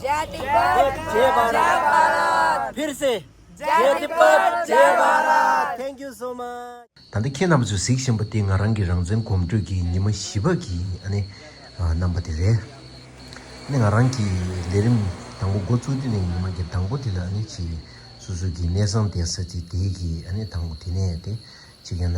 ད་ལྟ་ཁྱེད་རྣམས་ཚོས་གཟིགས་བཞིན་པ་དེ་ང་རང་གི་རང་བཙན་གོམ་བགྲོད་ཀྱི་ཉི་མ་བཞི་པ་གི་རྣམ་པ་དེ་རེད། ང་རང་གི་ལས་རིམ་དང་པོ་འགོ་བཙུགས་དུས་ནས་ཉི་མ་གི་དང་པོ་དེ་ལ་ཆེས་སོ་སོ་གི་གནས་བཟང་དེ་ས་ཚིགས་དེ་གི་དང་པོ་དེ་ནས་ཏེ་ཆེ་གེ་ན།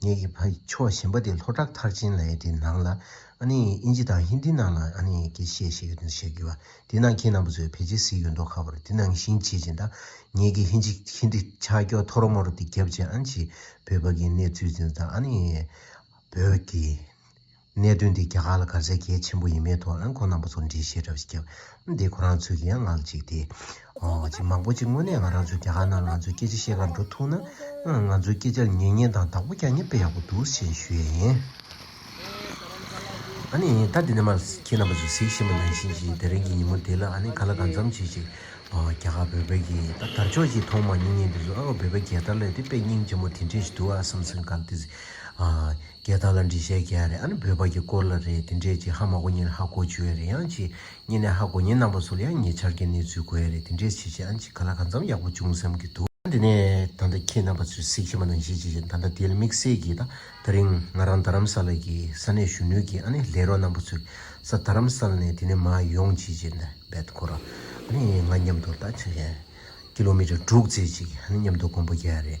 ངེད་ཀྱི་ཕ་ཡི་ཕྱོགས་གཞན་པ་དེ་ལྷོ་བྲག་མཐར་ཕྱིན་ལའེ་དེ་ནང་ལ་ཨ་ནེ་ཡིས་ཨིན་ཇི་དང་ཧིན་དི་ནང་ལ་ཨ་ནེ་ཡིས་ཀྱི་ཞེས་བཤད་ཡོད་དོན་བཤད་གི་བ་དེ་ནང་ཁྱེད་རྣམ་པ་ཚོས་ཕལ་ཆེར་གཟིགས་ཡོད་མདོག་ཁ་པར་དེ་ནང་བཞིན་བྱེད་ཅིང་དང་ངེད་ཀྱི་ཧིན་ཇི་ཧིན་དི་ཆ་སྐྱོ་ཐོ་རོ་མོ་རོ་དེ་རྒྱབ་ཅིང་ཨན་ཇི་བོད་ཕ་གིའི་གནས་ཚུལ་འཛིན་ཙང་ཨ་ནེ་ཡིས་བོད་ཀྱི། གནད་དོན་འདི་རྒྱ་གར་ལ་དགའ་ཚལ་གལ་ཆེན་པོ་ཡིན་མེད་ཐོག་ཨང་ཁོང་རྣམ་པ་ཚོར་འདྲིས་བཤད་གྲབས་ཤིག་བརྒྱབ། འདི་ཁོ་རང་ཚོས་ཀྱི་ཡང་ངག་གཅིག་སྟེ། གཅིག་མང་པོ་གཅིག་དངོས་གནས་ང་རང་ཚོས་རྒྱ་གར་ནང་ང་ཚོའི་སྐད་ཆ་བཤད་ཁར་འགྲོ་ཐུབ་ན། ང་ཚོའི་སྐད་ཆར་ཉན་ཉན་དང་བདག་པོ་རྒྱག་ཉན་པས་ཡག་པོ་འདུག་ཞེས་ཞུ་ཡས་ཡིན། ཨ་ནི་ད་འདི་ནས་མར་ཁྱེད་རྣམ་པ་ཚོས་གཟིགས་ཤེས་པ་ནང་བཞིན་གྱི་དེ་རིང་གི་ཉིན་མོ་འདི་ལ་ཨ་ནི་ག་ལ་གང་འཚམ་བྱེད་ཅིག། རྒྱ་གར་བོད་པའི་གི་ད་དར་ཅོག་ཅིག་མཐོང་མ་མྱོང་ཉིན་འདི་ཚོ་ཨ་ཨོ་བོད་པའི་རྒྱལ་དར་ལས་དེ་དཔེ་རྙིང་ཆེན་མོ་དེ་འདྲས་ཞིག་འདུག་ཨ་བསམ་བསམ་གར་དེ། རྒྱལ་དར་ལ་འདྲི་བཤད་རྒྱ་རེད་ཨ་ནི་བོད་པ་གྱི་སྐོར་ལ་རེད་དེ་འདྲས་ཀྱི་ཧ་མ་གོ་ཉིན་ཧ་གོ་བྱུ་ཡ་རེད་ཡང་གཅིག་ཉིན་ནས་ཧ་གོ་ཉིན་ནང་པ་ཚོ་ལ་ཡང་ཉེ་ཆར་གྱི་གནས་ཚུལ་གོ་ཡ་རེད་དེ་འདྲས་བྱེད་བྱེད་ཨ་ཅིག་ག་ལ་ག་འཚམ་ཡག་པོ་བྱུང་བསམ་གྱི་འདུག། ད་ནས་ད་ལྟ་ཁྱེད་རྣམ་པ་ཚོས་གཟིགས་ཤེས་པ་དང་གཞིས་བྱེས་ཀྱི་ད་ལྟ་དེལ་དམིགས་བསལ་གྱིས་ད་ད་རིང་ང་རང་རྡ་རམ་ས་ལ་གྱི་ས་གནས་གཞོན་ནུའི་གྱི་ཨ་ནི་ལས་རོགས་རྣམ་པ་ཚོས་ས་རྡ་རམ་ས་ལ་ནས་དེ་ནས་མ་ཡོང་བྱེད་བྱེད་ནས་བེད་ཁོ་ར་ཨ་ནི་ང་མཉམ་དུ་ལྟ་བྱེད་བྱེད། ཀི་ལོ་མི་ཏྲ་དྲུག་བརྩེགས་གཅིག་ཨ་ནི་མཉམ་དུ་གོམ་པོ་རྒྱ་རེད།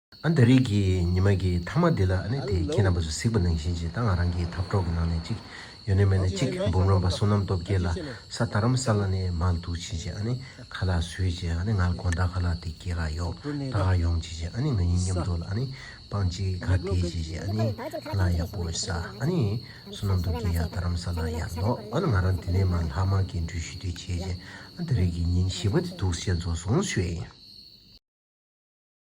ཨ་མདའ་རིགས་ཀྱི་ཉི་མ་གྱི་ཐ་མ་འདི་ལ་ཨ་ནེ་དེས་ཁྱེད་རྣམ་པ་ཚོ་གཟིགས་པ་ནང་བཞིན་གྱིས་ད་ང་རང་གི་འཐབ་གྲོགས་ཀྱི་ནང་ནས་གཅིག་ཡོ་ནེ་མེ་ནས་གཅིག་འབུམ་རམ་པ་བསོད་ནམས་སྟོབས་རྒྱལ་ལ་ས་ད་རམ་ས་ལ་ནས་མང་འདུག་བྱས་རྗེས་ཨ་ནེ་ཁ་ལག་ཟོས་རྗེས་ཨ་ནེ་ང་ལ་དགོངས་དག་ག་ལ་དེ་སྐྱེ་ག་ཡོད་ད་ག་ཡོང་བྱས་རྗེས་ཨ་ནེ་ང་ཡིན་སྙམ་འདོད་ལ་ཨ་ནེ་སྤང་གཅིག་ག་དེ་བྱས་རྗེས་ཨ་ནེ་ཁ་ལག་ཡག་པོ་ཟ་ཨ་ནེ་བསོད་ནམས་སྟོབས་རྒྱལ་ཡག་ད་རམ་ས་ལ་ཡག་འདོག་ཨ་ནེ་ང་རང་དེ་ནས་མར་ལྷག་མར་གྱི་འགྲུལ་བཞུད་དེ་བྱས་རྗེས་ཨ་མདའ་རིགས་ཀྱི་ཉིན་བཞི་པ་དེ་འདུག་བྱས་རྫོགས་སོང་ཞོས།